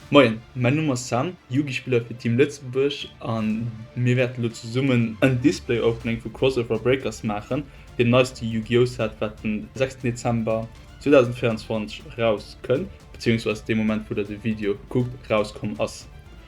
Moien, mäin Numm ass Sam, Yugi-Spiller fir Team Lëtzebuerg an mir wäerten elo zesummen en Display Opening vu Crossover Breakers maachen, deem neiste Yu-Gi-Oh! Set wat den 6 Dezember 2024 erauskënnt, bezéiungsweis dee Moment wou der de Video kuckt, erauskomm ass.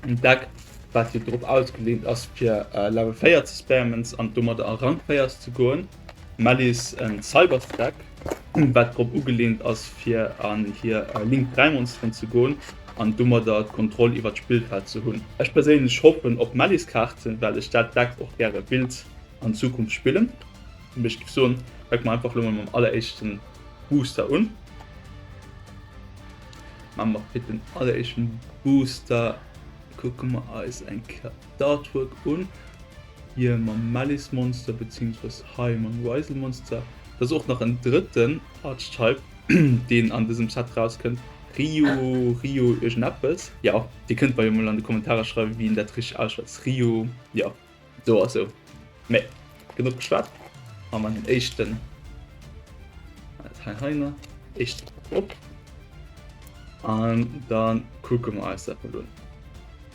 en Deck wat jo drop ausgeleent ass fir Level 4 ze spammen an domadder a Rang 4 ze goen, Mellies en Cybers Deck wat drop ugeleent ass fir an hir Link 3 Monsteren ze goen an domadder d'Kontroll iwwert d'Spillfeld ze hunn. Ech perséinlech hoffen op Mellies Kaarten well ech dat Deck och gäre willt an Zukunft spillen, mee ech giff soen fänke mer einfach lo mol mam alleréischten Booster un. Ma mat fir den alleréischten Booster kucke mer eis eng Kéier d'Artwork un, hie mam Malice Monster beziehungsweise hei mam Ryzel Monster. Et ass och nach en drëtten Archetype deen an dësem Set rauskënnt, Ryu, Rio, iergendeppes, jo dir kënnt mer jo mol an de Kommentarer schreiwen wéi een dat richteg ausschwätzt, Ryu, jo. So ass so. Mee, genuch geschwat. An man den éischten. Hei heiner. Éischt op. An dann kucke mer eis dat mol un.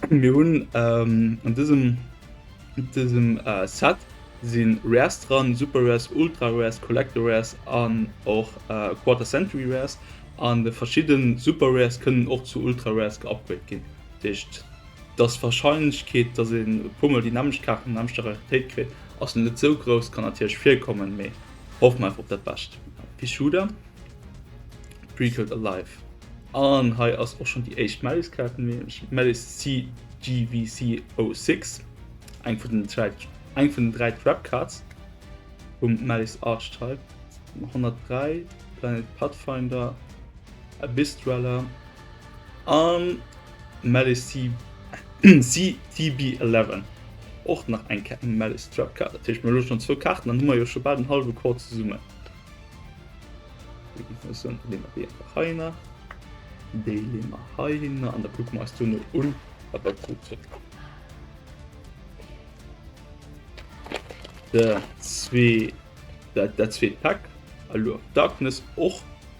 Mir hunn ähm, an dësem, dësem äh, Set sinn Rares dran, Super Rares, Ultra Rares, Collector Rares an och äh, Quarter Century Rares. An de verschidden Super Rares kënnen och zu Ultra Rares geupgrade ginn. Deescht. Dass Warscheinlechkeet dass een e puer mol déi nämmlecht Kaart an nämmlechter Raritéit kritt ass net sou grouss, kann natierlech virkommen, mee hoffe mer einfach op dat Bescht. Pschuder Precode Alive an hei ass och schonn déi éischt Mellis Kaart, nämlech Mellis CGVC 06, eng vun den 3 eng vun den 3 Trap Cards vum Mellis Archetype, 103 Planet Pathfinder Abyss Dweller an. Malice CVB11 och nach eng Ke Malice Trap Card. Dat heescht mir lo schon zwou Karten, dann hu mer jo scho bal den halwe Kor zesummen. Heiner déi lemmer heiner an der kuck meist du no un wat dat gut huet. Der zwee dat dat zweet Pack Allure Darkness och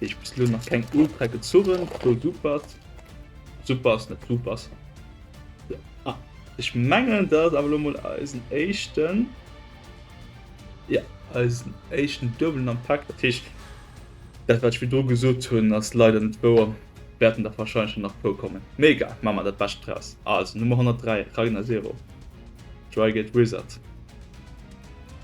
Ech bis lo nach keng Ultra gezurren pro supert super ass net supers ah ech mengen dat ass awer lo mol eisen éischten ja eisen éischten duebelen am Pak dat heescht dat wat ech virdru gesot hunn ass leider net wouer wäerten der wahrscheinlech nach pro kommen mee egal maache mer dat bescht draus also Nummer 103 Ragnazero Dry Gate Wizard.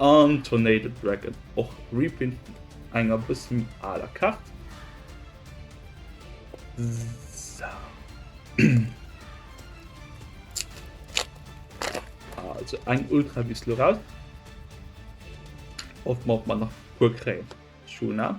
An Tornado Dragon, och Reprint vun enger bësse méi aler Kaart. Also eng Ultra bis lo raus. Hoffen mer op mer nach e puer kréien. Schuna,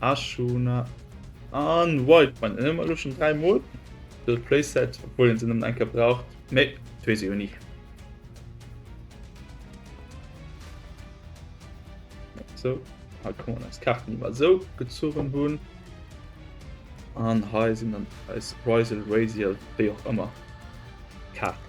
Ashuna an White man ëmmer elo schon dräi Mol de Playset obwohl en sinn ëmmer enke braucht. Nee, wees ech jo ni. So ha kann man eis Karten iwwer sou gezogen hunn. An hei sinn an eis Risel Rasiel wéi och ëmmer Karten.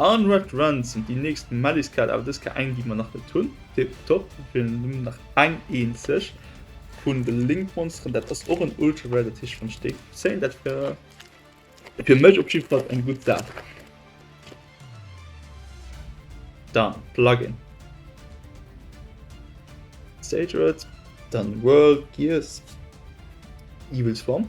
An Red Run sinn déi nächst Melliskaart, awer dës Kaart eng déi mer nach net hunn. Tiptop, mir feelen nëmmen nach eng eenzeg vun de Link Monsteren, dat ass och en Ultra Rare, dat heescht wann ech déi zéien, dat wär fir mech op jiddwer Fall eng gutt Saach. Dann Plugin, Sage Red, dann World, Gears, Evil Swarm.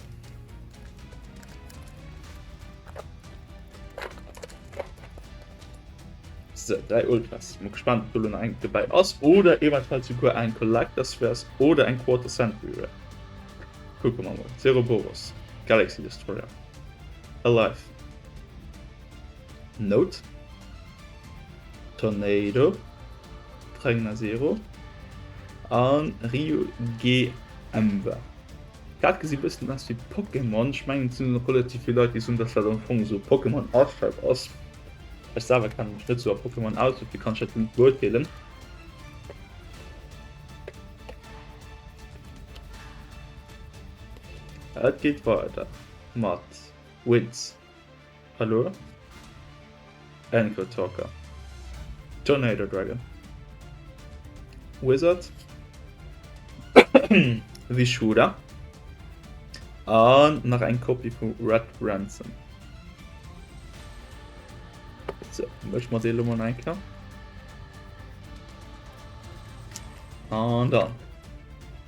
So, drei Ultras. Ich bin gespannt, ob du noch ein dabei hast oder ebenfalls sogar ein Collectors wärst oder ein Quarter Century wär. Gucken wir mal. Zero Boros. Galaxy Destroyer. Alive. Note. Tornado. Tragna Zero. An Rio GM war. Dat gesit bessen aus wéi Pokémon. Ech mengen et sin och relativ vill Leit déi son dass dat am Fong esou Pokémon Archetype ass. Ech selwer kennen mech net sou a Pokémon aus dofir kann ech dat net beurteelen. Et geet weider mat Winds. Hallo? Android Talker. Tornado Dragon. Wizard. Vishuda. An nach eng Kopie vu Red Ransom. So, mech mat dee Lummer enker. An dann.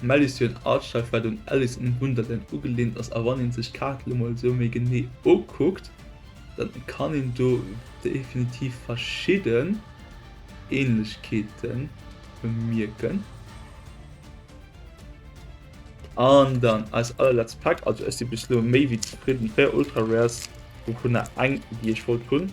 D'Malice hir Artstreif wat un Alice in Wunderland ugelehnt ass, a wann een sech d'Kaart lo mol sou méi genee ukuckt, dann kann een do definitiv verschidden Ähnlechkeeten bemierken. An dann eis allerletzt Pack, also ech si bis lo méi wéi zefridden, 4 Ultra Rares, wouvunner eng déi ech wollt hunn.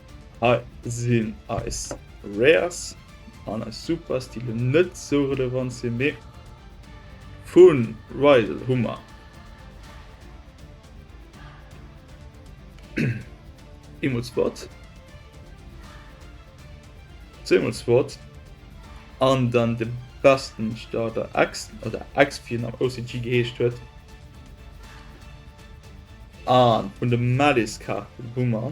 Hei sinn eis Rares an eis Supers, déi elo net esou relevant sinn, mee vu Rydell hu mer eemol Spot, zweemol Spot an dann de besten Starter X oder X wéi en am OCG geheescht huet. An vun de Malice-Kaarten hu mer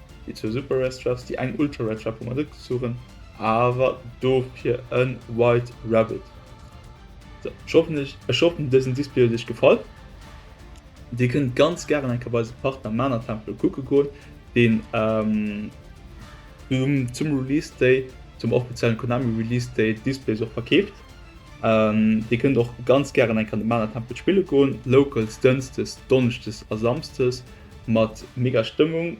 Déi zwou Super Rare Straps, déi eng Ultra Rare Trap hu mer net gezuchen, awer dofir e White Rabbit. Sou, ech hoffen ech ech hoffen dësen Display huet iech gefall. Dir kënnt ganz gären eng Kéier bei eise Partner Mana Templo kucke goen, deen zum zum Release Day, zum offiziellen Konami Release Day d'Displays och verkeeft. Dir kënnt och ganz gären eng Kéier an de Mana Tempel spille goen, Locals Dënsdes, Donneschdes a Samsdes. Mat mega Stëmmung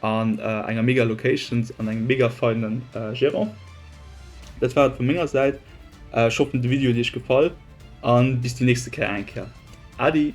an enger mega Locations an engem mega feinen Gerant. Dat war et vu menger Säit, ech hoffen de Video huet iech gefall an bis déi nächste Kéier eng Kéier. Adi!